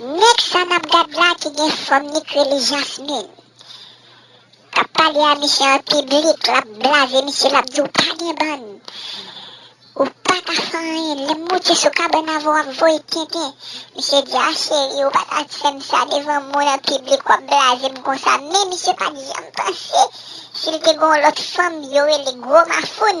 Nèg sa nap gad la ki gen fòm li k rele jasmin kap pale a misye an piblik lap blaze misye lap di ou pa gen bann ou paka fè anyen lèm moute sou kabann avèw wap voye tenten misye di a cheri ou pata fèm sa devan moun an piblik wap blazem konsa men misye pat janm panse sil te gon lòt fanm yo rele gwo mafoun.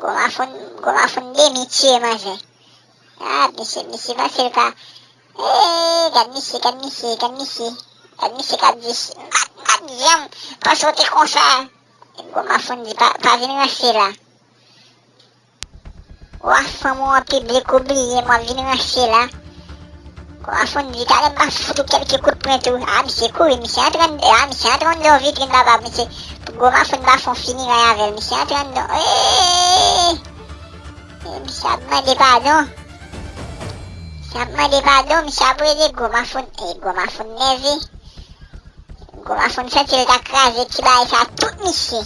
Goma foun demi tiye manzè. Ah misye misye panse l ka eeee gad misye gad misye gad misye gad misye kap di pat janm panse w te konsa Goma foun di pa vin ranse la Wa fanm ou an piblik ou bliye m wap vin ranse la. Kò a fonn li ta renmen fout ou kèlke kout pwen tou. A misye kouri, misye antre anndan, a misye antre anndan vitrin baba misye pou gwo mafonn bafon fini ray avèl misye antre anndan eeeeee e misye ap mande padon misye ap mande padon misye ap rele gwo mafonn e gwo mafonn nève gwo mafonn santi l ta kraze ti bagay sa tout misye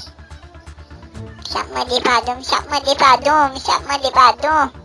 misye ap mande padon misye ap mande padon misye ap mande padon.